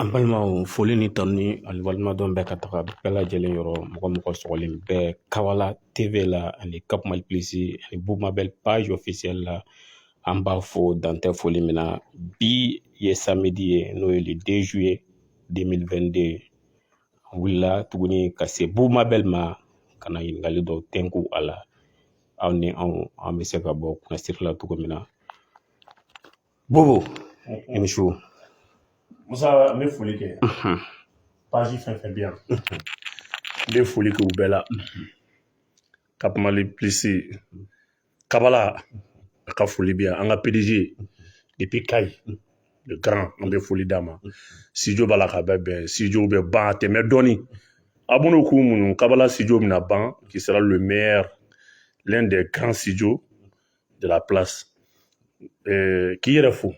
An balimaw foli ni tanuni ani waleɲumandɔn bɛ ka taga bɛɛ lajɛlen yɔrɔ mɔgɔ mɔgɔ sɔgɔlen bɛ Kabala TV la ani Cap Mali Plus ani Boubou Mabel page officielle la an b'aw fo dan tɛ foli min na bi ye samedi ye n'o ye le 2 juillet 2022 an wulila tuguni ka se Boubou Mabel ma ka na ɲininkali dɔw tɛnku a la aw ni anw an bɛ se ka bɔ kunnasiri la cogo min na Boubou i ni su musa n bɛ foli kɛ page fɛn fɛn bɛ yan n bɛ foli kɛ u bɛɛ la Cap Mali Plus Kabala a ka foli bɛ yan an ka pdg depuis kayi le grand an bɛ foli d'a ma studio b'a la ka bɛɛ bɛn studio bɛ ban tɛmɛ dɔɔni a b'o k'u muɲu Kabala studio bɛna ban qui sera le meilleur l'un des grands studios de la place euh, k'i yɛrɛ fo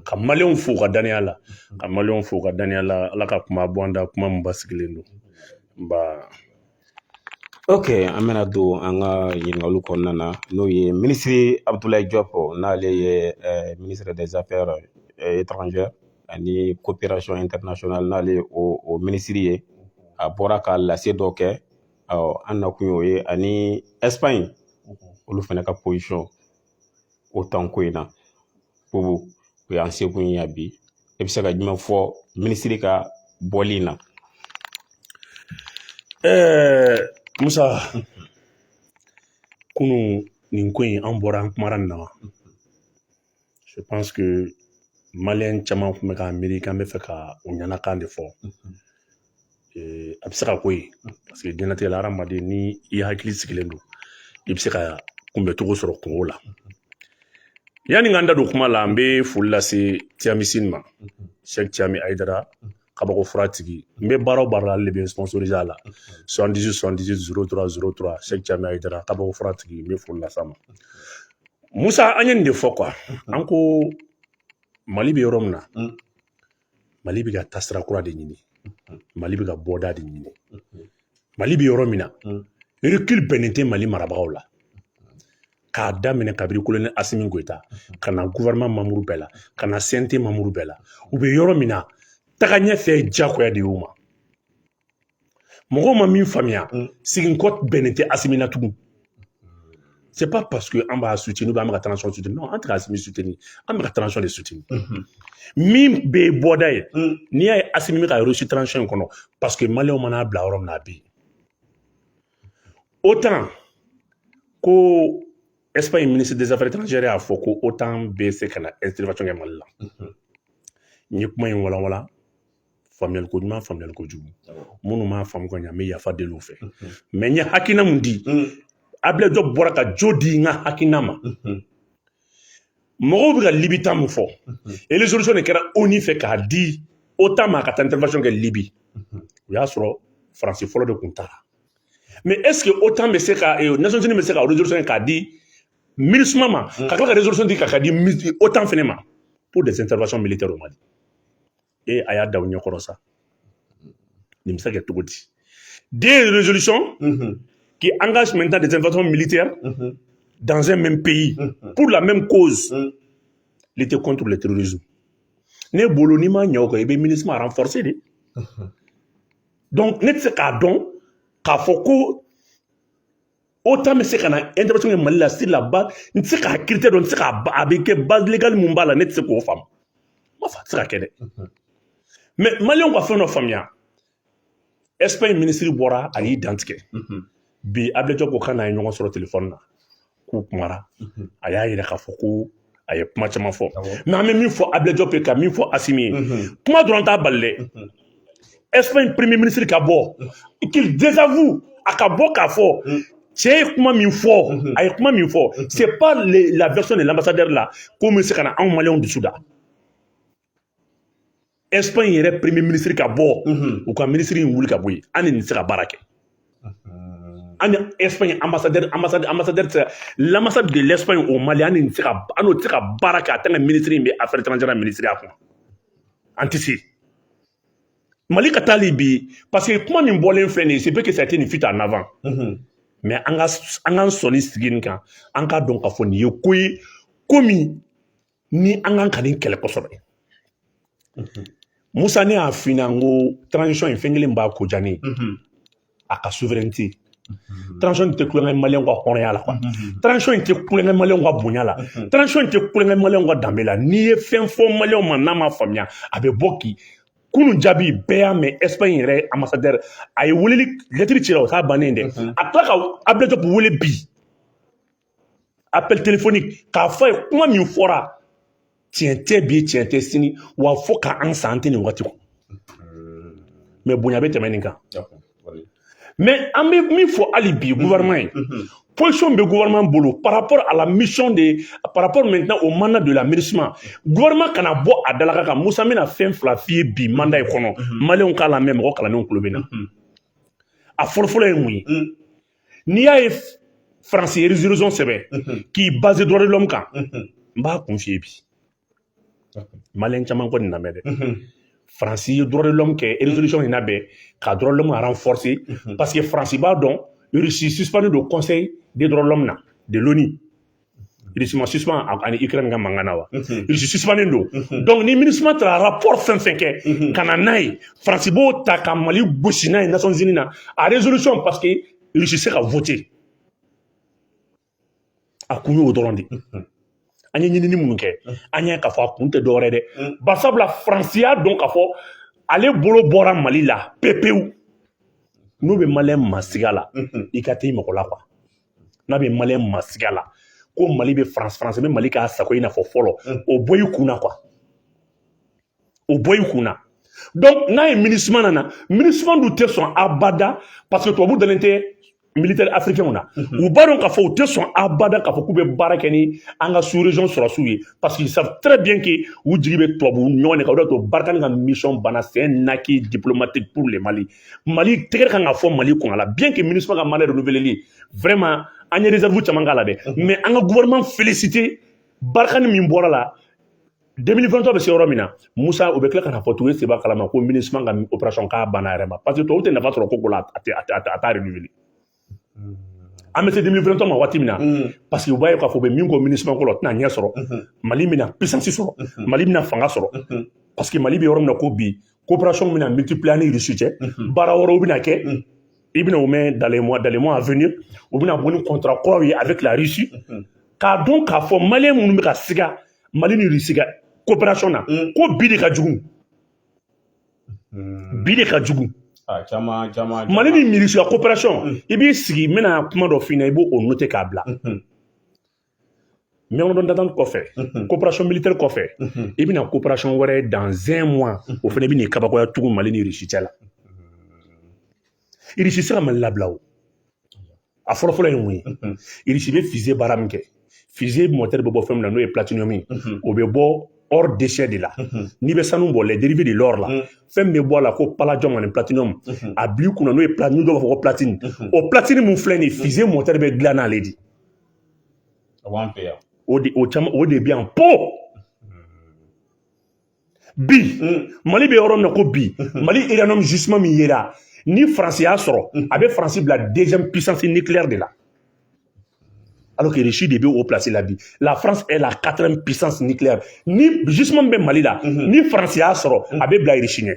ka maliyɛnw fo ka daniya la ka maliyɛnw fo ka daniya la ala ka kuma bɔ an da kuma min basigilen don nba Ok an bɛna don an ka ɲininkaliw kɔnɔna na n'o ye minisiri Abudulayi Jɔpu n'ale ye minisiri des affaires étrangères ani coopération internationale n'ale ye o minisiri ye a bɔra ka lase dɔ kɛ an nakun y'o ye ani Ɛsipaɲi olu fana ka OTAN ko in na Boubou o y'an sekun ye bi e bɛ se ka jumɛn fɔ minisiri ka bɔli in na ɛɛ musa kunun nin ko in an bɔra an kumara nin na wa je pense que maliyɛn caman tun bɛ k'a miiri k'an bɛ fɛ ka u ɲɛnakan de fɔ a bɛ se ka k'o ye paseke diɲɛlatigɛ la hadamaden ni i hakili sigilen don i bɛ se ka kunbɛn cogo sɔrɔ kow la yanni n ka n da don kuma la n bɛ foli lase tiamisini ma sɛk tiami ayidara kabako fura tigi n bɛ baara o baara la ale de bɛ sponsorise a la soixante dix soixante dix zéro trois zéro trois sɛk tiami ayidara kabako fura tigi n bɛ foli lase a ma musa an ye nin de fɔ quoi an ko mali bɛ yɔrɔ min na mali bɛ ka taasira kura de ɲini mali bɛ ka bɔda de ɲini mali bɛ yɔrɔ min na reculer bɛnnen tɛ mali marabagaw la k'a daminɛ kabiri kolonɛli asimi goyita ka na guwɛrɛnɛman manburu bɛɛ la ka na CNT manburu bɛɛ la u bɛ yɔrɔ min na taga ɲɛfɛ jagoya de y'u ma mɔgɔw ma min faamuya mm. siginkɔ bɛnnen tɛ asimi na tugun c'est pas parce que an b'a soutenir an bɛ ka transition soutenir non an tɛ ka asimi soutenir an bɛ ka transition de soutenir mm-hmm. min bɛ bɔda ye mm. n'i y'a ye asimi bɛ ka réussir transition in kɔnɔ parce que maliyɛnw man'a bila yɔrɔ min na a bɛ yen otan ko espagne ministre des affaires étrangères y'a fɔ ko otan bɛ se ka na intervention kɛ mali la n ye kuma in walawala faamuyali ko ɲuman faamuyali ko jugu minnu m'a faamu ka ɲɛ n bɛ yafa deli u fɛ mais n ye hakilina mun di abdoulaye diop bɔra ka jo di n ka hakilina ma mɔgɔw bɛ ka libi ta mun fɔ résolution de kɛra onu fɛ k'a di otan ma ka taa intervention kɛ libi o y'a sɔrɔ faransi fɔlɔ de tun taara mais est ce que otan bɛ se ka nations unies bɛ se ka résolution k'a di minusma ma ka tila ka résolution di ka k'a di otan fana ma pour des interventions militaires au mali e a y'a da u ɲɛkɔrɔ sa nin bɛ se ka kɛ cogo di deux résolutions qui engagent maintenant des interventions militaires dans un même pays pour la même cause lutter contre le terrorisme ne bolo n'i ma ɲɛ o kan i bɛ minusma renforcer de donc ne tɛ se k'a dɔn k'a fɔ ko otan bɛ se ka na intervention kɛ mali la sur la base n tɛ se k'a critère dɔn n tɛ se k'a a bɛ kɛ base légale mun b'a la ne tɛ se k'o faamu n m'a fɔ a tɛ se ka kɛ dɛ mais maliyɛnw ka fɛn dɔ faamuya espagne ministre bɔra a y'i dantigɛ bi abdoulaye diop ko k'a n'a ye ɲɔgɔn sɔrɔ telefɔni na k'u kumara a y'a yira k'a fɔ ko a ye kuma caman fɔ mais an bɛ min fɔ abdoulaye diop ye ka min fɔ asimi ye kuma dɔrɔn t'a bali dɛ espagne premier ministre ka bɔ qu'il désavoue a ka bɔ k'a fɔ cɛ ye kuma min fɔ a ye kuma min fɔ c'est pas la version de l'ambassadeur la ko min se ka na anw maliyɛnw dusu da espagne yɛrɛ premier ministre ka bɔ u ka ministre in wuli ka bɔ yen an ni nin tɛ se ka baara kɛ an ni espagne ambassadeur ambassadeur ambassadeur tɛ l'ambassade de l'espagne au mali an ni nin tɛ se ka an n'o tɛ se ka baara kɛ a tant que ministre in bɛ affaires étrangères minisiriya kun an tɛ se mali ka taali bi parce que kuma min bɔlen filɛ nin ye c'est vrai que ça a été une fuite en avant mais an ka an k'an sɔnni sigi nin kan an k'a dɔn k'a fɔ nin ye ko ye ko min ni an kan ka nin kɛlɛ kosɛbɛ musa ne y'a f'i ɲɛna n ko transition in fɛn kelen b'a ko diya ne ye a ka souveraineté transition tɛ tulon kɛ maliyɛnw ka hɔrɔnya la transition in tɛ tulon kɛ maliyɛnw ka bonya la transition in tɛ tulon kɛ maliyɛnw ka danbe la n'i ye fɛn fɔ maliyɛnw ma n'a ma faamuya a bɛ bɔ k'i kunun jaabi bɛɛ y'a mɛn espagne yɛrɛ ambassadeur a ye weleli lɛtiri cira o t'a bannen dɛ a tila ka abdoulaye diop wele bi appel téléphonique k'a fɔ a ye kuma min fɔra tiɲɛ tɛ bi tiɲɛ tɛ sini wa fo ka an san an tɛ nin waati kɔnɔ mais bonya bɛ tɛmɛ nin kan mais an bɛ min fɔ hali bi gouvernement ye position bɛ gouvernement bolo par rapport à la mission de par rapport maintenant au mandat de la MINUSMA gouvernement kana bɔ a dalakan kan Musa bɛna fɛn fila f'i ye bi mandat in kɔnɔ maliyɛnw k'a lamɛn mɔgɔ kalannenw tulo bɛ n na a fɔlɔfɔlɔ ye mun ye n'i y'a ye faransi ye resoluzɔn sɛbɛn k'i baze dɔrɔn kan n b'a kun f'i ye bi maliyɛn caman kɔni lamɛn dɛ faransi ye dɔrɔn kɛ resoluzɔn in labɛn ka dɔrɔn aran fɔrse paseke faransi b'a dɔn rusi sisipani don kɔnsɛyi de dɔrɔn na de loni Rusi ma suspendu a ni Ukraine ka mankan na wa rusi suspendulen don donc ni MINUSMA taara rapport fɛn o fɛn kɛ ka na n'a ye faransi b'o ta ka mali gosi n'a ye Nations Unies na a résolution parce que irisi se ka voter a kun y'o dɔrɔn de an ye ɲinini minnu kɛ an y'a k'a fɔ a kun tɛ dɔwɛrɛ dɛ barisabula faransi y'a dɔn k'a fɔ ale bolo bɔra mali la pepewu n'u bɛ maliyɛn masiga la i ka t'i mɔgɔ la quoi n'a bɛ maliyɛn masiga la ko mali bɛ faransi faransi bɛ mali k'a sago i n'a fɔ fɔlɔ mm. o bɔ i kun na quoi o bɔ i kun na donc n'a ye MINUSMA nana MINUSMA dun tɛ sɔn abada parce que tubabu dalen tɛ militaire africainw na mhm. u b'a dɔn k'a fɔ u tɛ sɔn abada k'a fɔ k'u bɛ baara kɛ ni an ka sous région sɔrɔsiw ye parce qu'ils savent très bien que u jigi bɛ tubabu ɲɔgɔn de kan o de y'a to Barkhane ka mission banna c'est un acquis diplomatique pour le mali mali tɛgɛrɛ kan ka fɔ mali kun a la bien que MINUSMA ka mandat renouveleli vraiment an ye réserve caman k'a la dɛ mais an ka gouvernement féliciter Barkhane min bɔra a la 2023 bɛ se yɔrɔ min na musa o bɛ tila ka na fɔ tugun seba kalama ko MINUSMA ka opération ka ban a yɛrɛ ma parce que tubabu tɛ nafa sɔrɔ ko ko la a tɛ a t'a renouveler an bɛ se 2023 ma waati min na parce que u b'a ye k'a fɔ u bɛ min kɔ MINUSMA ko la o tɛna ɲɛ sɔrɔ mali bɛna puissance sɔrɔ mali bɛna fanga sɔrɔ parce que mali bɛ yɔrɔ min na ko bi coopération bɛna multiplier a ni rusi cɛ baara wɛrɛw bɛna kɛ i bɛna o mɛn dans les mois à venir u bɛna bɔ ni contrat kuraw ye avec la russie k'a dɔn k'a fɔ maliyɛn minnu bɛ ka siga mali ni rusi ka coopération na ko bi de ka jugu Hmm. bi de ka jugu ah, caman caman mali ni rusi ka coopération hmm. i b'i sigi n bɛna kuma dɔ f'i ɲɛna i b'o o noter k'a bila hmm. mémorandum d'entente kɔfɛ coopération militaire kɔfɛ i bɛna coopération wɛrɛ dans un mois o fana bɛn'i kabakoya tugun mali ni russie cɛ la irisi se ka mali labila o a fɔlɔfɔlɔ ye mun ye irisi bɛ fize baara min kɛ fize mɔtɛri bɛ bɔ fɛn min na n'o ye platinum ye o bɛ bɔ or déchet de la n'i bɛ sanu bɔ les dérivés de l'or la fɛn min bɛ bɔ a la ko palladium ani platinum a b'i kunna n'o ye platine dɔw b'a fɔ ko platine o platine min filɛ nin ye fize mɔtɛri bɛ dilan n'ale de o de o caman o de bɛ yan po bi hmm. mali bɛ yɔrɔ min na ko bi hmm. mali uranium gisement min yera ni faransi y'a sɔrɔ hmm. a bɛ faransi bila deuxième puissance nucléaire de la alors que Russie de bɛ o place la bi la France est la quatrième puissance nucléaire ni gisement min bɛ mali la ni faransi y'a sɔrɔ a bɛ bila Russie ɲɛ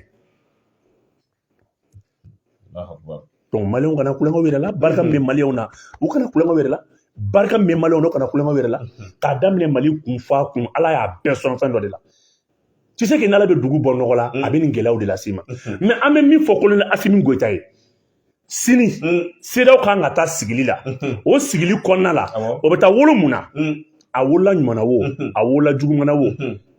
maliyɛnw kana kulonkɛ u yɛrɛ la barika min bɛ maliyɛnw na u kana kulonkɛ u yɛrɛ la barika min bɛ maliyɛnw na u kana kulonkɛ u yɛrɛ la k'a daminɛ mali kun fa kun ala y'a bɛɛ sɔn fɛn dɔ de la tu sais que n'ala bɛ dugu bɔ nɔgɔ la a bɛ nin gɛlɛyaw de las'i ma mais an bɛ min fɔ colonel asimi goyita ye sini CEDEAO kan ka taa sigili la o sigili kɔnɔna la o bɛ taa wolo mun na a wolola ɲuman na wo a wolola juguman na wo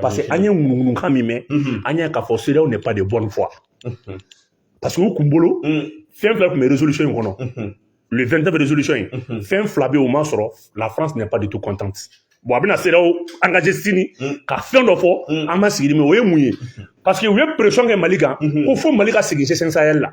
parce que an ye ŋunuŋunukan min mɛn an y'a k'a fɔ CEDEAO n'est pas de bonne foi parce que u kun bolo fɛn fila tun bɛ résolution in kɔnɔ le 29 résolution in fɛn fila bɛ yen o ma sɔrɔ la france n'est pas du tout contente bon a bɛna CEDEAO engager sini ka fɛn dɔ fɔ an ma sigi mais o ye mun ye parce que u ye pression kɛ mali kan ko fo mali ka segin g5 sahel la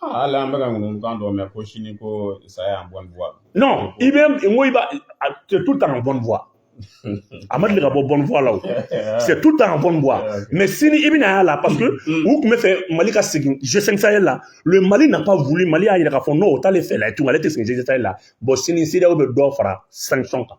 Ah, ala an bɛka ŋunukan dɔ mɛn ko sini ko ça est en bonne voie non i bɛ n ko i b'a c'est tout le temps en bonne voie a ma deli ka bɔ bonne voie la o c'est tout le temps en bonne voie mais sini i bɛna y'a la parce que mm. u tun bɛ fɛ mali ka segin g5 sahel la le mali n'a pas voulu mali y'a jira k'a fɔ non o t'ale fɛ la ye tugun ale tɛ segin g5 sahel la bon sini CEDEAO bɛ dɔ fara sanction kan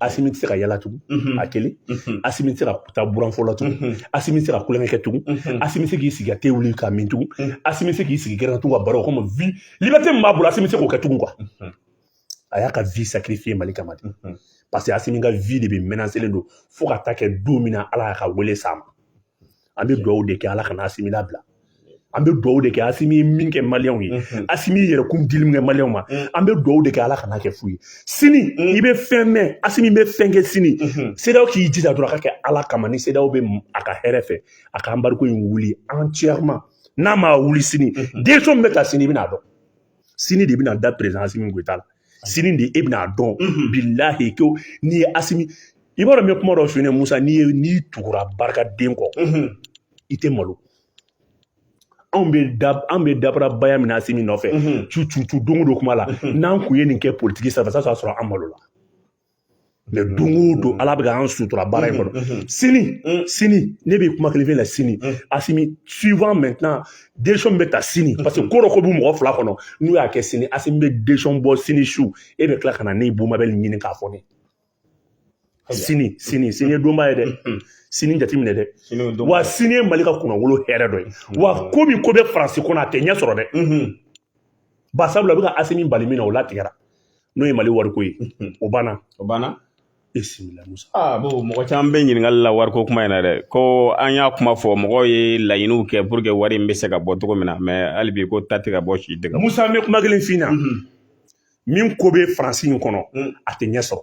asimi tɛ se ka yala tugun a kelen asimi tɛ se ka taa buranfo la tugun asimi tɛ se ka kulonkɛ kɛ tugun asimi tɛ se k'i sigi ka te wuli ka min tugun asimi tɛ se k'i sigi gɛrɛn na tugun ka baro kɔmi vi libɛte min b'a bolo asimi tɛ se k'o kɛ tugun kuwa a y'a ka vi sakirifiye mali kama de paseke asimi ka vi de bɛ mɛnaselen don fo ka taa kɛ don min na ala y'a ka wele s'a ma an bɛ dugawu de kɛ ala kana asimi labila an bɛ dugawu de kɛ asimi ye min kɛ maliyɛnw ye mhm. asimi ye yɛrɛkun dili min kɛ maliyɛnw ma mhm. an bɛ dugawu de kɛ ala kana kɛ fu ye sini mhm. i bɛ fɛn mɛn asimi bɛ fɛn kɛ sini CEDEAO k'i jija dɔrɔn a ka kɛ ala kama ni CEDEAO bɛ a ka hɛrɛ fɛ a ka embargo in wuli entièrement n'a ma wuli sini décision min bɛ ta sini i bɛna dɔn sini de bɛna da perezan asimi goyita la sini de e bɛna dɔn bilahi ko n'i ye asimi i b'a dɔn n bɛ kuma dɔ f'i ɲɛna musa n'i ye n'i tugura barikaden kɔ i tɛ malo anw bɛ da anw bɛ dabara baya min na asimi nɔfɛ cu cu cu don o don kuma la n'an kun ye nin kɛ politiki sanfɛ sa sɔrɔ an malola mais don o don ala bɛ k'an sutura baara in kɔnɔ sini sini ne bɛ kuma kelen fɛn la sini asimi suivant maintenant décision bɛ ta sini parce que ko dɔ ko b'u mɔgɔ fila kɔnɔ n'u y'a kɛ sini asimi bɛ décision bɔ sini su e bɛ tila ka na ne bumabel ɲini k'a fɔ ne sini sini sini ye donba ye dɛ sini jateminɛ dɛ wa sini ye mali ka kunnawolo hɛrɛ dɔ ye wa ko min ko bɛ faransi kɔnɔ a tɛ ɲɛ sɔrɔ dɛ ba sabula a bɛ ka asimi bali min na o latigɛra n'o ye mali wariko ye o banna o banna bisimila musa aa bon mɔgɔ caman bɛ ɲininkali la wariko kuma in na dɛ ko an y'a kuma fɔ mɔgɔw ye laɲiniw kɛ pour que wari in bɛ se ka bɔ cogo min na mais hali bi ko ta tɛ ka bɔ si dɛgɛ musa n bɛ kuma kelen f'i na min ko bɛ faransi in kɔnɔ a tɛ ɲɛ sɔrɔ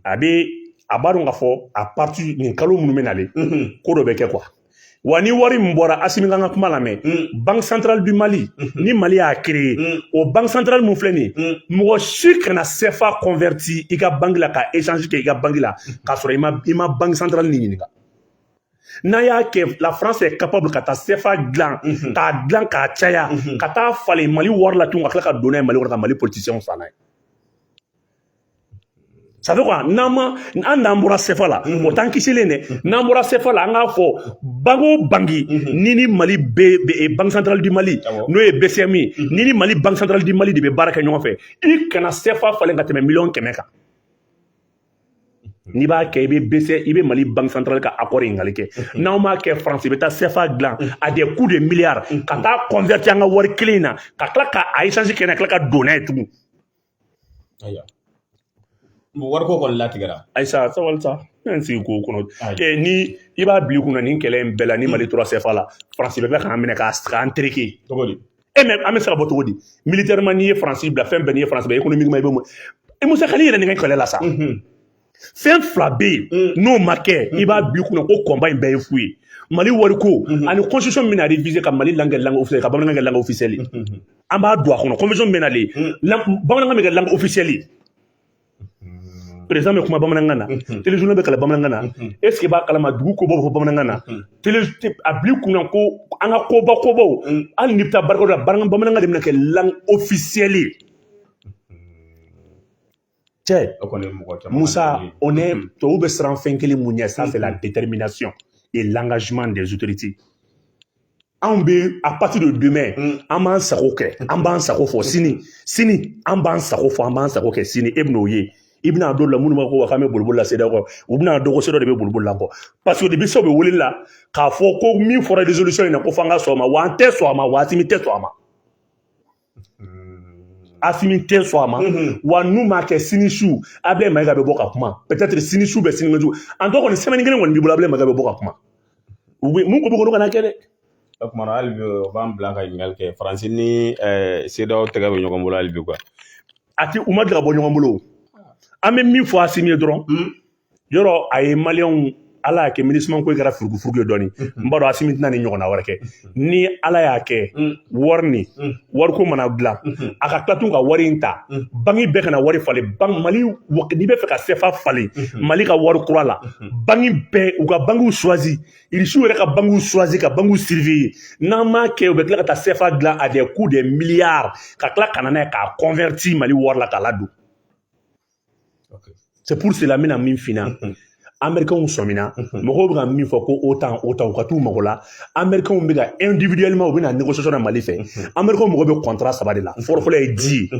a bɛ a b'a dɔn k'a fɔ à partir nin kalo minnu bɛ nalen ko dɔ bɛ kɛ quoi wa ni wari min bɔra asimi kan ka kuma lamɛn banque centrale du mali ni mali y'a créé o banque centrale min filɛ nin ye mɔgɔ si kana sefa converti i ka banki la ka échange kɛ i ka banki la k'a sɔrɔ i ma i ma banque centrale nin ɲininka n'a y'a kɛ la france est capable ka taa sefa dilan k'a dilan k'a caya ka taa falen mali wari la tugun ka tila ka don n'a ye mali kɔnɔ ka mali politisiyɛnw san n'a ye ça veut quoi n'an ma an n'an bɔra sefa la o t'an kisilen dɛ n'an bɔra sefa la an k'a fɔ banki o banki ni ni mali bɛ banque centrale du mali n'o ye bcm ye ni ni mali banque centrale du mali de bɛ baara kɛ ɲɔgɔn fɛ i kana sefa falen ka tɛmɛ miliyɔn kɛmɛ kan n'i b'a kɛ i bɛ bese i bɛ mali banque centrale ka accord ɲininkali kɛ n'aw m'a kɛ faransi bɛ taa sefa dilan à des coups de milliards ka taa converti an ka wari kelen in na ka tila ka a échange kɛ na tila ka don n'a ye tugun ayiwa wariko kɔni latigɛra ayisa sabali sa ne ye n sigi k'o kɔnɔ ee ni i b'a bila i kunna nin kɛlɛ in bɛɛ la ni mali tora sefa la faransi bɛ bɛ k'an minɛ k'an tereke cogo di e mais an bɛ se ka bɔ cogo di militairement n'i ye faransi bila fɛn bɛɛ n'i ye faransi bila économiquement i bɛ mun e musa kali yɛrɛ nin kɛlɛ la sa fɛn fila bɛ yen mm. n'o ma kɛ i b'a bila i kunna ko combat in bɛɛ ye fu ye mali wariko mm-hmm. ani constitution min bɛna réviser ka mali langue langue officielle ka bamanankan kɛ langue officielle mm-hmm. an b'a don a kɔnɔ convention min bɛ nalen mm. bamanankan bɛ kɛ langue officielle président bɛ kuma bamanankan na téléjournal bɛ kalan bamanankan na est-ce que i b'a kalama dugu ko bɛ fɔ bamanankan na a bila i kun ko an ka koba kobaw hali ni bɛ taa barika la bamanankan bamanankan de bɛ kɛ langue officielle cɛ musa o ne tubabu bɛ siran fɛn kelen min ɲɛ ça c'est la détermination et l'engagement des autorités anw bɛ à partir de demain an b'an sago kɛ an b'an sago fɔ sini sini an b'an sago fɔ an b'an sago kɛ sini e bɛn'o ye i bɛna dɔn la minnu b'a fɔ k'an bɛ boliboli la cedeao kɔ u bɛn'a dɔn ko cedeao de bɛ boliboli la kɔ parce que depuis se u bɛ wele la k'a fɔ ko min fɔra résolution in na ko f'an ka sɔn o ma wa an tɛ sɔn a ma asimi tɛ sɔn a ma asimi tɛ sɔn a ma wa n'u m'a kɛ sini su abilayi mayiga bɛ bɔ ka kuma peut-être sini su bɛ sini su en tout cas kɔni semaine kelen kɔni b'i bolo abilayi mayiga bɛ bɔ ka kuma u bɛ mun ko bɛ kolo kana kɛ dɛ o kumana hali bi o b'an bila ka ɲininkali kɛ faransi ni CEDEAO tɛgɛ bɛ ɲɔgɔn bolo hali bi quoi a tɛ u ma deli ka bɔ ɲɔgɔn bolo an bɛ min fɔ asimi ye dɔrɔn yɔrɔ a ye maliyɛnw ala y'a kɛ MINUSMA ko in kɛra furugufurugu ye dɔɔni n b'a dɔn asimi tɛna nin ɲɔgɔnna wɛrɛ kɛ ni ala y'a kɛ wari ni wariko mana dilan a ka tila tun ka wari in ta banki bɛɛ kana wari falen mali n'i b'a fɛ ka sefa falen mali ka wari kura la banki bɛɛ u ka bankiw choisir irisiw yɛrɛ ka bankiw choisir ka bankiw surveiller n'an m'a kɛ u bɛ tila ka taa sefa dilan à des coups de milliards ka tila ka na n'a ye k'a convertir mali wari la k'a ladon c'est pour cela n bɛna min f'i ɲɛna américains sɔmina mɔgɔw bɛ ka min fɔ ko OTAN OTAN u ka t'u mago la américains bɛ ka individuellement u bɛ na négociation na mali fɛ américains mago bɛ contrat saba de la fɔlɔfɔlɔ ye ji ye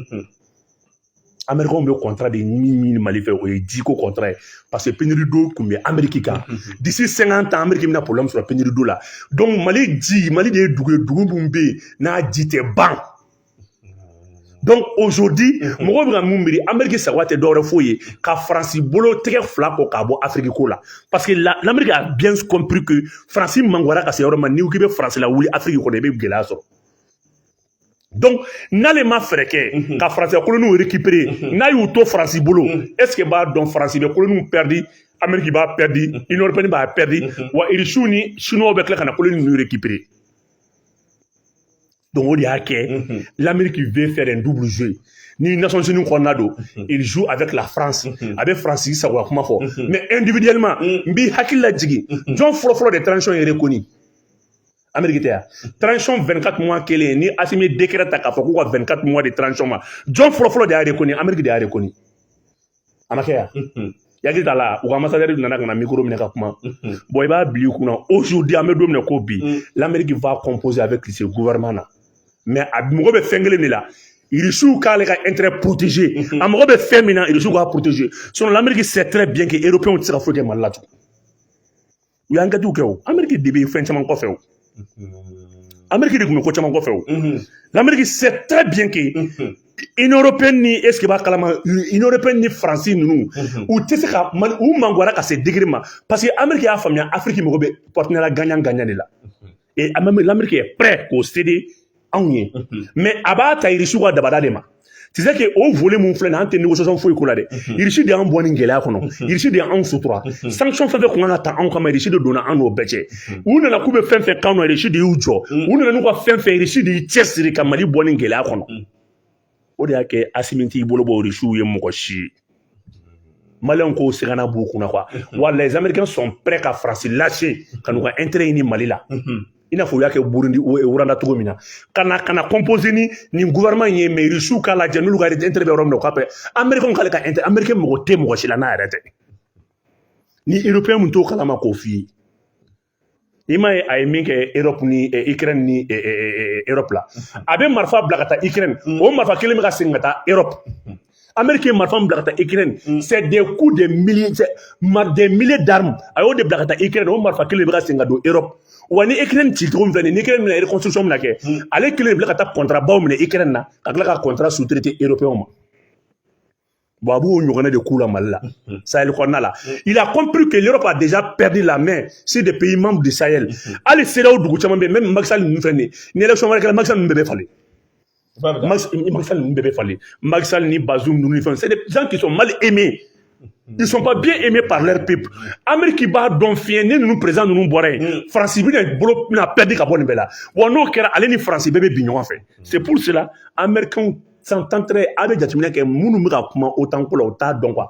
américains bɛ contrat de ɲini ɲini mali fɛ o ye jiko contrat ye parce que pénurie d'eau tun bɛ ameriki kan d'ici cinquante ans ameriki bɛna problème sɔrɔ pénurie d'eau la donc mali ji mali de ye dugu ye dugu min bɛ yen n'a ji tɛ ban donc aujourd'hui mhm. mɔgɔw bɛ ka mun miiri ameriki sagoya tɛ dɔwɛrɛ foyi ye ka faransi bolo tɛgɛ fila ko k'a bɔ afiriki ko la parce que l'amérique a bien compris que faransi mangoyara ka se yɔrɔ ma n'i ko k'i bɛ faransi lawuli afiriki kɔnɔ i bɛ gɛlɛya sɔrɔ donc n'ale ma fɛɛrɛ kɛ mhm. ka faransi ka koloniw récupérer mhm. n'a y'u to faransi bolo est-ce que b'a dɔn faransi bɛ koloniw perdre ameriki b'a perdre union européenne b'a perdre wa irisiw ni chinois bɛ tila ka na koloni ninnu récupérer Donc o de y'a kɛ l'Amérique veut faire un double jeu ni Nations Unies kɔnɔna don il joue avec la France a bɛ France sagoya kuma fɔ mais individuellement n b'i hakili la jigin jɔn fɔlɔfɔlɔ de transition ye reconnue Amérique tɛ yan transition 24 mois kelen ni Assimi décret ta k'a fɔ k'u ka 24 mois de transition ma jɔn fɔlɔfɔlɔ de y'a reconnue Amérique de y'a reconnue a ma kɛ yan yaki t'a la u ka ambassadeur nana ka na mikoro minɛ ka kuma bon i b'a bila i kunna aujourd'hui an bɛ don min na ko bi l'amérique va composer avec ce gouvernement là mais a mago bɛ fɛn kelen de la irisiw k'ale ka intérêt protéger a mago bɛ fɛn min na irisiw k'a protéger sinon l'amérique sait très bien que européens tɛ se ka foyi kɛ mali la tugun u y'an kɛtiw kɛ o ameriki de bɛ fɛn caman kɔfɛ o ameriki de tun bɛ ko caman kɔfɛ o l'amérique sait très bien que union européenne ni est-ce que b'a kalama union européenne ni faransi ninnu u tɛ se ka mali u mangoyara ka se degré ma parce que ameriki y'a faamuya afiriki mago bɛ partenariat gagnant-gagnant de la et l'amérique est prêt k'o céder anw ye mais a b'a ta irisiw ka dabada de ma tu sais que o volet min filɛ nin an tɛ négociation foyi k'o la dɛ irisi de y'an bɔ nin gɛlɛya kɔnɔ irisi de y'anw sutura sanction fɛn fɛn kun kan ka ta anw kama irisi de donna an n'o bɛɛ cɛ u nana k'u bɛ fɛn fɛn k'an na irisi de y'u jɔ u nana n'u ka fɛn fɛn irisi de y'i cɛsiri ka mali bɔ nin gɛlɛya kɔnɔ o de y'a kɛ asimi t'i bolo bɔ irisiw ye mɔgɔ si ye maliyɛnw k'o siganna b'u kun na quoi wa les américains sont prêts ka faransi lâcher ka n'u ka intérêt ɲini mali la i n'a fɔ u y'a kɛ burundi ou rwanda cogo min na ka na ka na composer ni nin gouvernement in ye mais irisiw k'a lajɛ n'olu ka intérêt bɛ yɔrɔ min na u k'a pɛ américains k'ale ka intérêt américain mago tɛ mɔgɔ si la n'a yɛrɛ tɛ ni européen min t'o kalama k'o f'i ye i m'a ye a ye min kɛ erɔpu ni ikirɛn ni erɔpu la a bɛ marifa bila ka taa ikirɛn o marifa kelen bɛ ka segin ka taa erɔpu ameriki ye marifa bila ka taa ikirɛn c'est des coups de milliers des milliers d'armes a y'o de bila ka taa ikirɛn o marifa kelen bɛ ka segin ka don erɔpu wa ni ikirɛn ci cogo min filɛ nin ye ikirɛn bɛna reconstruction mina kɛ ale kelen bila ka taa contrat baw minɛ ikirɛn na ka tila ka contrat sous-traiter européenw ma Bon, a b'o ɲɔgɔnna de k'u la Mali la mhm. Sahel kɔnɔna la mhm. il a compris que l'Europe a déjà perdu la main sur des pays membres du Sahel mhm. hali CEDEAO dugu caman bɛ yen même Macky Sall ninnu filɛ nin ye ni élection wɛrɛ kɛra Macky Sall ninnu bɛɛ bɛ falen Macky Sall ninnu bɛɛ bɛ falen Macky Sall ni Bazoum ninnu ni fɛnw c'est des gens qui sont mal aimés ils sont pas bien aimés par leur peuple Amérique b'a dɔn fiɲɛ ni ninnu président ninnu bɔra yen mm. France bɛna bolo bɛna perdre ka bɔ nin bɛɛ la wa n'o kɛra ale ni France bɛɛ bɛ bin ɲɔgɔn fɛ c'est pour cela Américains sont en train a bɛ jateminɛ kɛ minnu bɛ ka kuma otan ko la u t'a dɔn quoi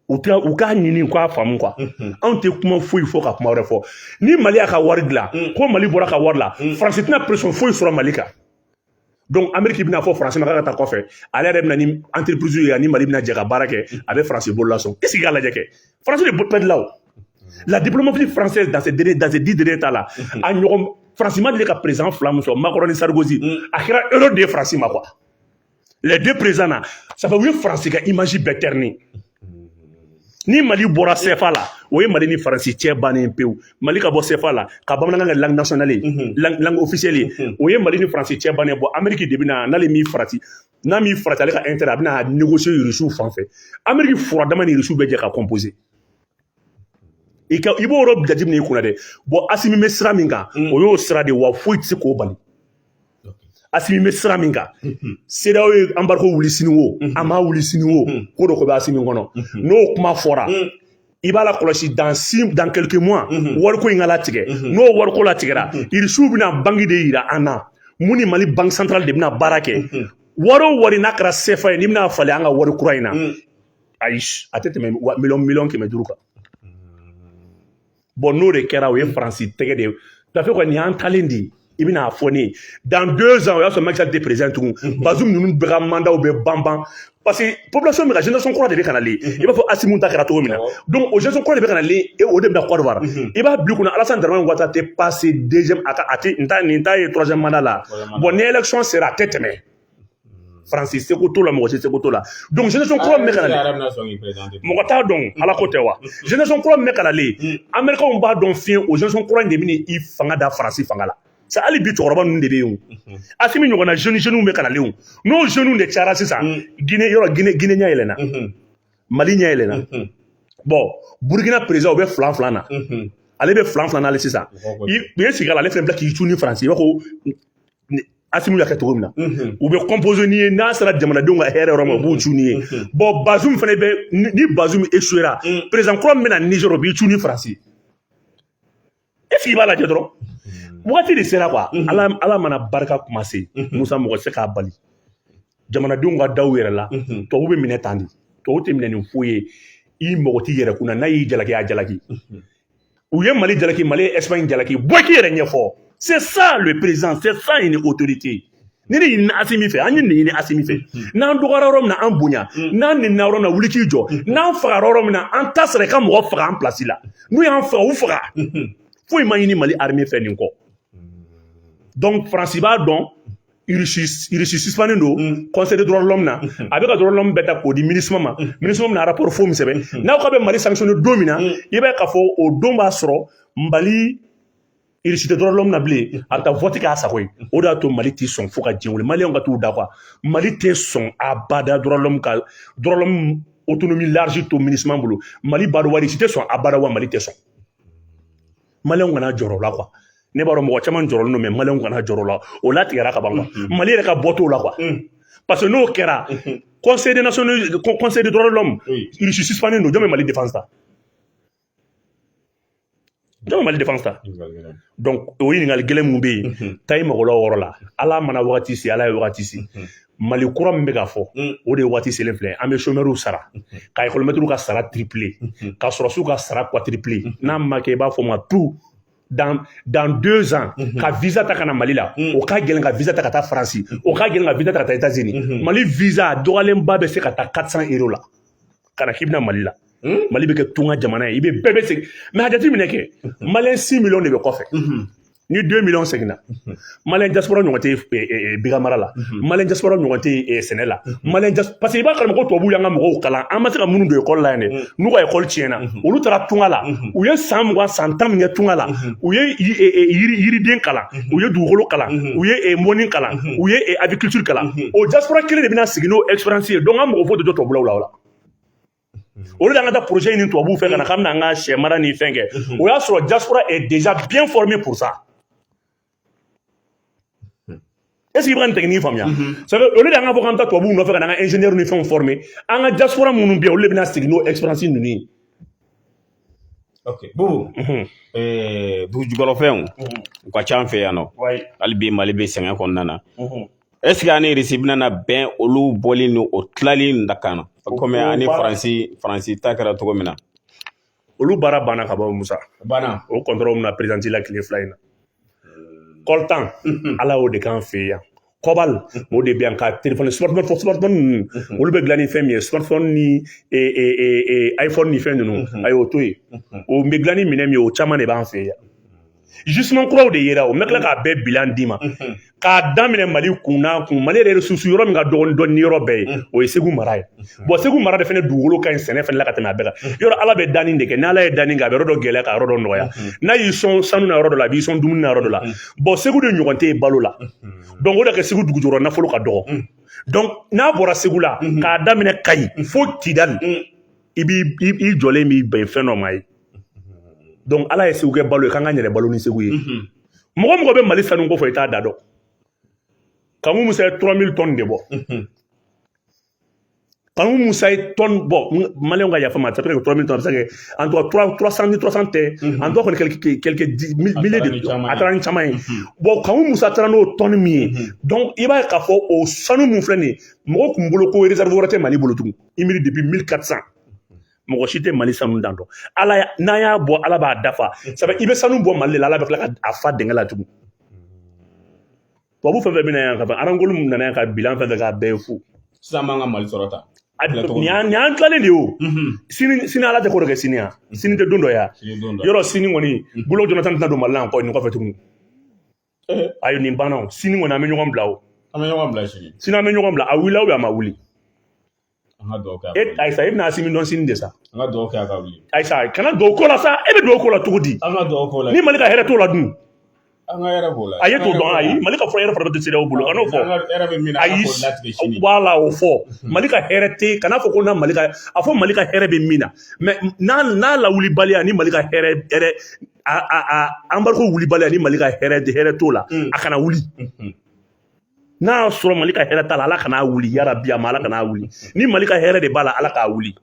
u tɛ u k'a ɲini u k'a faamu quoi anw tɛ kuma foyi fɔ ka kuma wɛrɛ fɔ ni mali y'a ka wari dilan ko mali bɔra ka wari la faransi tɛna pression foyi sɔrɔ mali kan donc ameriki bɛna a fɔ faransi ma k'a ka taa kɔfɛ ale yɛrɛ bɛna ni entreprise ye ani mali bɛna jɛ ka baara kɛ a bɛ faransi bolo la sɔn k'i sigi k'a lajɛ kɛ France de perdila o la diplomatie française dans ces derniers dans ces dix derniers temps là a ɲɔgɔn France ma deli ka président fila min sɔrɔ Macron ni Sarkozy a kɛra erreur de ye France ma quoi les deux présidents là ça fait u ye France ka image bɛɛ ternir ni Mali bɔra CFA la o ye Mali ni France cɛ bannen pewu Mali ka bɔ CFA la ka bamanankan kɛ langue nationale ye langue langue officielle ye o ye Mali ni France cɛ bannen bon Amérique de bɛ na n'ale m'i farati n'a m'i farati ale ka intérêt a bɛna négocier irisiw fan fɛ ameriki fura dama ni irisiw bɛ jɛ ka composer i ka i b'o yɔrɔ jateminɛ i kun na dɛ bon asimi bɛ sira min kan o y'o sira de wa foyi tɛ se k'o bali asimi bɛ sira min kan cedeao ye embargo wuli sini wo a m'a wuli sini wo ko dɔ ko bɛ asimi kɔnɔ n'o kuma fɔra i b'a lakɔlɔsi dans dans quelques mois mhm. wariko in ka latigɛ mhm. n'o wariko latigɛra mhm. irisiw bɛna banque de yira an na min ni mali banque centrale de bɛna baara kɛ wari o wari n'a kɛra sefa ye n'i bɛna a falen an ka wari kura in na mm. ayi a tɛ tɛmɛ miliyɔn miliyɔn kɛmɛ duuru kan mm. bon n'o de kɛra o ye faransi tɛgɛ de ye tafe kɔni y'an talen de ye i bɛna a fɔ ne ye dans deux ans o y'a sɔrɔ Macky Sall tɛ président tugun mhm. Bazoum ninnu bɛɛ ka mandaw bɛ ban ban parce que population bɛ ka génération kura de bɛ ka nalen mhm. i b'a fɔ Assimi ta kɛra cogo min na donc o génération kura de bɛ ka nalen e o de bɛna Côte d'Ivoire mhm. i b'a bila i kunna Alassane Dramane Ouattara tɛ passer deuxième a ka a tɛ nin t'a ye troisième mandat la bon ni élection sera a tɛ tɛmɛ. faransi seko t'o la mɔgɔ si seko t'o la donc génération kura min bɛ ka nalen mɔgɔ t'a dɔn ala ko tɛ wa génération kura min bɛ ka nalen américainw b'a dɔn fiyewu o génération kura in de bɛna i fanga da faransi fanga la sa hali bi cɛkɔrɔba ninnu de bɛ yen o asimi ɲɔgɔnna jeune jeunes bɛ ka nalen o n'o jeunes de cayara sisan guinée yɔrɔ guinée guinée ɲɛ yɛlɛnna mali ɲɛ yɛlɛnna bon burukina président o bɛ filan filan na ale bɛ filan filan n'ale sisan u ye sigi a la ale fɛnɛ bila k'i cun ni faransi i b'a fɔ Asimi y'a kɛ cogo min na u bɛ composer n'i ye n'a sera jamanadenw ka hɛrɛ yɔrɔ ma u b'u cun n'i ye bon Bazoum fana bɛ ni Bazoum échouera président kura min bɛna na Niger o b'i cun ni faransi est-ce que i b'a lajɛ dɔrɔn waati de sera wa ala mana barika kuma se musa mɔgɔ se k'a bali jamanadenw ka da u yɛrɛ la tubabu bɛ minɛ tan de tubabu tɛ minɛ ni foyi ye i mɔgɔ t'i yɛrɛ kun na n'a y'i jalaki a jalaki u ye mali jalaki mali ye espagne jalaki bɔ k'i yɛrɛ ɲɛfɔ c'est ça le président c'est ça une autorité nin de ɲinina asimi fɛ an ye nin ɲini asimi fɛ n'an dɔgɔyara yɔrɔ min na an bonya n'an nenina yɔrɔ min na wuli k'i jɔ n'an fagara yɔrɔ min na an ta sera i ka mɔgɔ faga an pilasi la n'u y'an faga u faga foyi ma ɲini mali armée fɛ nin kɔ donc faransi b'a dɔn irisispnen don kɔsɔn dɔrɔnlɔ min na a bɛ ka dɔrɔnlɔ bɛɛ da k'o di mini ma mini min na arapo fo sɛbɛn n'aw ka bɛ mali sami don min na i bɛ ka fɔ o don b'a sɔrɔ mali irisite dɔrɔnlɔ min na bilen a bɛ taa fɔti k'a sago o de y'a to mali tɛ sɔn fo ka diɲɛ mali ka t'u da qu mali tɛ sɔn a bada dɔrɔnlɔ ka dɔrɔn o tun bɛ lariz to mini bolo mali ba wari si tɛ sɔn a bara wa mali tɛ sɔn maliyɛnw kana jɔrɔ o la quoi ne b'a dɔn mɔgɔ caman jɔrɔlen don mais maliyɛnw kana jɔrɔ o la o latigɛra ka ban quoi mm-hmm. mali yɛrɛ ka bɔ t'o la quoi mm. parce que n'o kɛra mm-hmm. conseil de national conseil de droit de l'homme irisi suspannen don jɔn bɛ mali défense ta jɔn bɛ mali défense ta donc o ɲininkali gɛlɛn mun bɛ yen mm-hmm. taa i mago la o yɔrɔ la ala mana wagati se ala ye wagati se mali kura min bɛ ka fɔ mm. o de ye waati selen filɛ an bɛ chômeurs sara mm-hmm. ka ekɔlimɛtiriw ka sara tripler mm-hmm. ka sɔrɔsiw ka sara quadrupler mm-hmm. n'a ma kɛ i b'a fɔ ma tu dans, dans deux ans mm -hmm. ka visa ta ka na mali la mm. o ka gɛlɛn ka visa ta ka taa faransi o ka gɛlɛn ka visa ta ka taa états unis mm -hmm. mali visa dɔgɔyalenba bɛ se ka taa 400 euro la ka na k'i bɛna mali la mm. mali bɛ kɛ tunga jamana ye i bɛ bɛɛ bɛ segin mais a jateminɛ kɛ maliyɛn 6 millions de bɛ kɔfɛ ni deux millions seginna maliyɛn diaspora ɲɔgɔn tɛ eh, eh, eh, biganmara la mhm. maliyɛn diaspora ɲɔgɔn tɛ sɛnɛ la mhm. maliyɛn parce que i b'a kalama ko tubabuw y'an ka mɔgɔw kalan an ma se ka minnu don ekɔli la yan dɛ mhm. n'u ka ekɔli tiɲɛna olu taara tunga la u ye san mugan san tan min kɛ tunga la u ye yiriden kalan u ye dugukolo kalan u ye mɔni kalan u ye agriculture kalan o diaspora kelen de bɛna segin n'o expérience ye donc an mago foyi tɛ jɔ tubabulaw la o la au lieu de an ka taa projet ɲini tubabuw fɛ ka na k'an bɛna an ka sɛ mara ni fɛn kɛ o y'a sɔrɔ diaspora est déjà bien formé pour ça est ce que i bɛ ka nin technique faamuya ça fait au lieu de an ka fɔ k'an bɛ taa tubabuw nɔfɛ ka na an ka ingénieur ni fɛnw former an ka diaspora minnu bɛ yen olu de bɛna segin n'o expérience ninnu ye ok bubu ɛɛ dugujukɔrɔfɛnw u ka ca an fɛ yan nɔ hali bi mali bɛ sɛgɛn kɔnɔna na ɛsike an ni irisi bɛna bɛn olu bɔli ni o tilali in da kan na kɔmi an ni faransi faransi ta kɛra cogo min na olu baara banna ka ban musa banna o kɔntɔrɔli min na perezanti la tile fila in na coltan ala y'o de k'an fɛ yan cobalt o de bɛ yan ka telefɔni smartphone smartphone ninnu olu bɛ dilan ni fɛn min ye smartphone ni iphone ni fɛn ninnu a y'o to yen o bɛ dilan ni minɛn min ye o caman de b'an fɛ yan justement kuraw de yera o n bɛ tila k'a bɛɛ bilan d'i ma k'a daminɛ mali kun n'a kun mali yɛrɛ sous-sol yɔrɔ min ka dɔgɔn dɔɔni yɔrɔ bɛɛ ye o ye segu mara ye bɔn segu mara de fana dugukolo ka ɲi sɛnɛ fana la ka tɛmɛ a bɛɛ kan yɔrɔ ala bɛ danni de kɛ n'ala ye danni kɛ a bɛ yɔrɔ dɔ gɛlɛya ka yɔrɔ dɔ nɔgɔya n'a y'i sɔn sanu na yɔrɔ dɔ la a b'i sɔn dumuni na yɔrɔ dɔ la bɔn segu de ɲɔgɔn tɛ yen balo la dɔnku o de kɛ segu dugujukɔrɔ nafolo ka dɔgɔ dɔnku n'a bɔra segu la k'a daminɛ kayi fo kidali i b'i i jɔlen b'i bɛn fɛn dɔ ma ye donc ala ye segu kɛ balo ye k'an ka yɛrɛ balo ni segu ye mɔgɔ mɔgɔ bɛ mali sanu ko fɔ i t'a dan dɔn kanku musa ye 3000 tonnes de bɔ kanku musa ye tonne bɔ maliyɛnw ka yafa n ma ça peut être 3000 tonnes a bɛ se ka kɛ en tout cas 300 ni 300 tɛ en tout cas kɔni quelques quelques milliers de a taara ni caman ye bon kanku musa taara n'o tonne min ye donc i b'a ye k'a fɔ o sanu min filɛ nin ye mɔgɔ tun bolo ko réserve wɛrɛ tɛ mali bolo tugun i miiri depuis 1400 mɔgɔ si tɛ mali sanu dan dɔn ala n'an y'a bɔ ala b'a dafa sabu i bɛ sanu bɔ mali la ala bɛ tila ka a fa dingɛ la tugun tubabu fɛn fɛn bɛna yan ka ban randgold min nana yan ka bilan fɛn fɛn k'a bɛɛ ye fu sisan b'an ka mali sɔrɔ ta nin y'an tilalen de ye o sini sini ala tɛ ko dɔ kɛ sini yan sini tɛ don dɔ ya yɔrɔ sini kɔni goodluck jonathan tɛna don mali la yan kɔ nin kɔfɛ tuguni ayi nin banna o sini kɔni an bɛ ɲɔgɔn bila o an bɛ ɲɔgɔn bila sini sini an bɛ ɲɔgɔn bila a wulila a ma wuli an ka dugawu kɛ e ayisa e bɛna asimi dɔn sini de sa an ka dugawu kɛ a ka wuli ayisa kana dugawu k'o la sa e bɛ dugawu k'o la cogo di an ka dugawu k'o la ni mali ka hɛrɛ t'o la dun an ka hɛrɛ b'o la a ye t'o dɔn ayi mali ka fɔ hɛrɛ fana bɛ tɛ cedeao bolo kan'o fɔ ayi wala o fɔ mali ka hɛrɛ tɛ kana fɔ ko na mali ka a fɔ mali ka hɛrɛ bɛ min na mɛ n'a n'a lawulibaliya ni mali ka hɛrɛ hɛrɛ embargo wulibaliya ni mali ka hɛrɛ t'o la mm. a kana wuli mm-hmm. n'a y'a sɔrɔ mali ka hɛrɛ t'a la ala kana wuli yarabi a ma ala kana wuli ni mali ka hɛrɛ de b'a la ala k'a wuli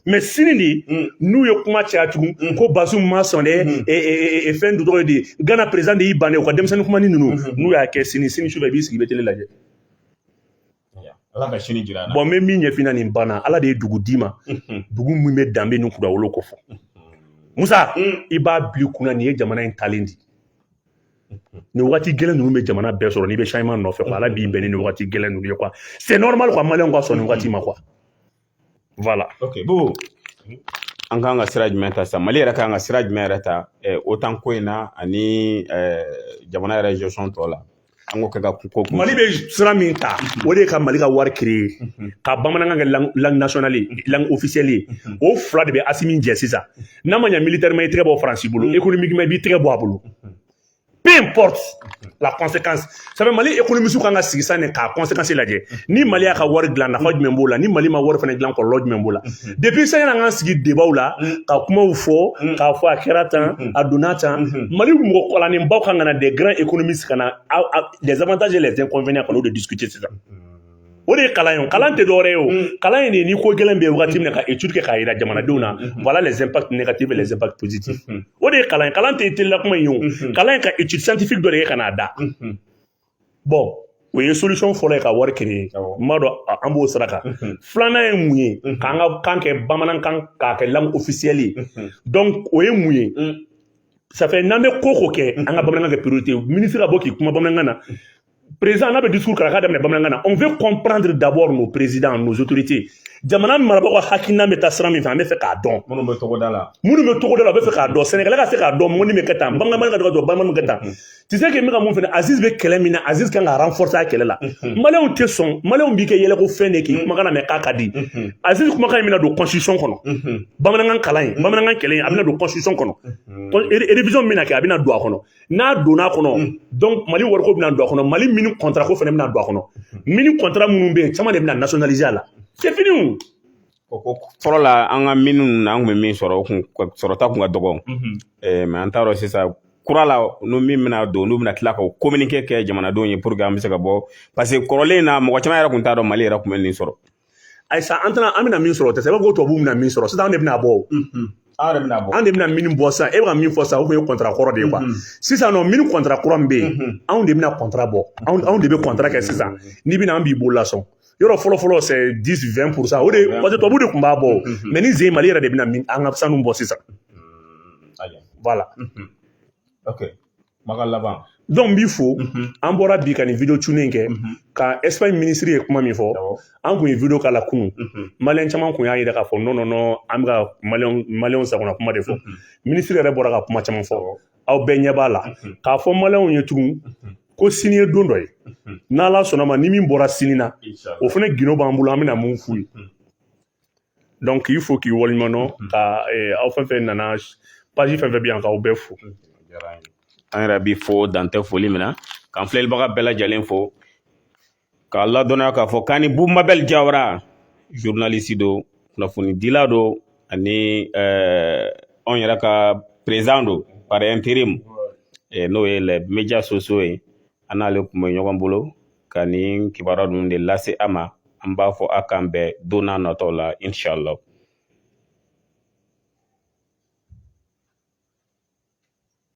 mais sini de mm. n'u ye kuma caya tugun mm. ko bazoum ma sɔn dɛ mm. e, e, e, fɛn du tɔgɔ de gana président de y'i bannen u ka denmisɛnnin kuma ni ninnu mm-hmm. n'u y'a kɛ sini sini su fɛ i b'i sigi i bɛ télé lajɛ ala ka sini jira an na bon n bɛ min ɲɛfina nin banna ala de ye dugu d'i ma dugu min bɛ danbe ni kudawolo ko fɔ musa mm. i b'a bil'i kunna nin ye jamana in talen di nin wagati gɛlɛn ninnu bɛ jamana bɛɛ sɔrɔ n'i bɛ changement nɔfɛ quoi ala b'i bɛn ni nin wagati gɛlɛn ninnu ye quoi c'est normal quoi maliyɛnw ka sɔn nin wagati ma quoi voilà ok bon an kan ka sira jumɛn ta sisan mali yɛrɛ kan ka sira jumɛn yɛrɛ ta eh, otan ko in na ani eh, jamana yɛrɛ gestion tɔ la an k'o kɛ ka ko kun mali bɛ sira min ta o de ye ka mali ka wari créer ka bamanankan kɛ lang- langue nationale ye, langue officielle ye. o fila de bɛ asimi jɛ sisan n'a ma ɲɛ militairement i tɛgɛ bɔ faransi bolo économiquement i b'i tɛgɛ bɔ a bolo peu importe la conséquence ça fait mali économistew kan ka sigi san k'a conséquence lajɛ ni mali y'a ka wari dilan nafa jumɛn b'o la ni mali ma wari fana dilan kɔlɔlɔ jumɛn b'o la depuis sani an k'an sigi débatw la ka kumaw fɔ k'a fɔ a kɛra tan a donna tan mali mɔgɔ kalannenbaw kan ka na des grands économistes ka na les avantages et les inconvénients ka n'o de discuter sisan o de ye kalan ye kalan tɛ dɔwɛrɛ ye o kalan in de ni ko gɛlɛn bɛ yen wagati min na ka étude kɛ k'a jira jamanadenw na voilà les impacts négatifs et les impacts positifs o de ye kalan ye kalan tɛ télé la kuma in ye o kalan ye ka étude scientifique dɔ de kɛ ka n'a da bon o ye solution fɔlɔ ye ka wari créer n b'a dɔn an b'o sira kan filanan ye mun ye k'an ka kan kɛ bamanankan k'a kɛ langue officielle ye donc o ye mun ye ça fait n'an bɛ ko o ko kɛ an ka bamanankan kɛ priorité ye ministre ka bɔ k'i kuma bamanankan na président n'a bɛ discours kɛ a k'a daminɛ bamanankan na on veut comprendre d'abord nos présidents nos autorités jamana marabagaw ka hakilina bɛ taa sira min fɛ an b'a fɛ k'a dɔn minnu bɛ togoda la minnu bɛ togoda la u b'a fɛ k'a dɔn sɛnɛkɛla ka se k'a dɔn mɔni bɛ kɛ tan baganmarala k'a dɔn baganmara bɛ kɛ tan tu sais que n bɛ ka mun fɛnɛ aziz bɛ kɛlɛ min na aziz kan ka renforcer a kɛlɛ la maliyɛnw tɛ sɔn maliyɛnw b'i kɛ yɛlɛko fɛn de k'i kumakan lamɛn k'a ka di aziz kumakan in bɛna don constitution kɔnɔ bamanankan kalan in bamanankan kɛlɛ in a bɛna don constitution kɔnɔ révision min bɛna kɛ a bɛna don a kɔnɔ n'a donna a kɔnɔ mm. donc mali wariko bɛna don a kɔnɔ mali mine contrat ko fana bɛna don a kɔnɔ mine contrat minnu bɛ yen caman de bɛna nationaliser a la c'est fini o o ko fɔlɔ la an ka mine ninnu na an tun bɛ min sɔrɔ o kun sɔrɔta kun ka dɔgɔn mm-hmm. eh, mais an t'a dɔn sisan kura la n'o min bɛna don n'u bɛna tila ka communiqué kɛ jamanadenw ye pour que an bɛ se ka bɔ parce que kɔrɔlen in na mɔgɔ caman yɛrɛ tun t'a dɔn mali yɛrɛ tun bɛ nin sɔrɔ ayisa an tɛna an bɛna min sɔrɔ o tɛ se i b'a fɔ ko tubabuw bɛna min sɔrɔ sisan an de bɛna bɔ o aw yɛrɛ bɛna bɔ an de bɛna min bɔ sisan e bɛ ka min fɔ sisan o kun ye kɔntara kɔrɔ de ye quoi sisan nɔ min kɔntara kura min bɛ yen anw de bɛna kɔntara bɔ anw anw de bɛ kɔntara kɛ sisan n'i bɛna an b'i bolo lasɔn yɔrɔ fɔlɔ fɔlɔ c'est dix vingt pourcent o de parce que tubabu de kun b'a bɔ mais ni zen mali yɛrɛ de bɛna min an ka sanu bɔ sisan voilà ok Maka laban donc n b'i fo an bɔra bi ka nin video tourner kɛ ka espagne minisiri ye kuma min fɔ an kun ye video k'a la kunun maliyɛn caman kun y'a yira k'a fɔ non non non an bɛ ka maliyɛnw sagona kuma de fɔ minisiri yɛrɛ bɔra ka kuma caman fɔ aw bɛɛ ɲɛ b'a la k'a fɔ maliyɛnw ye tugun ko sini ye don dɔ ye n'ala sɔnna ma ni min bɔra sini na o fana gindo b'an bolo an bɛna mun f'u ye donc k'i fo k'i waleɲuman dɔn mm-hmm. ka eh, aw fɛn fɛn nana page fɛn fɛn bɛ yan k'aw bɛɛ fo an yɛrɛ b'i fo dan tɛ foli min na k'an filɛlibaga bɛɛ lajɛlen fo k'a ladɔnniya k'a fɔ k'an ni Bu Mabel Jawara journaliste don kunnafonidila don ani eh, anw yɛrɛ ka président don par intérim eh, n'o ye les médias sociaux ye an n'ale kun bɛ ɲɔgɔn bolo ka nin kibaruya ninnu de lase a ma an b'a fɔ a k'an bɛn don n'a nataw la inshallah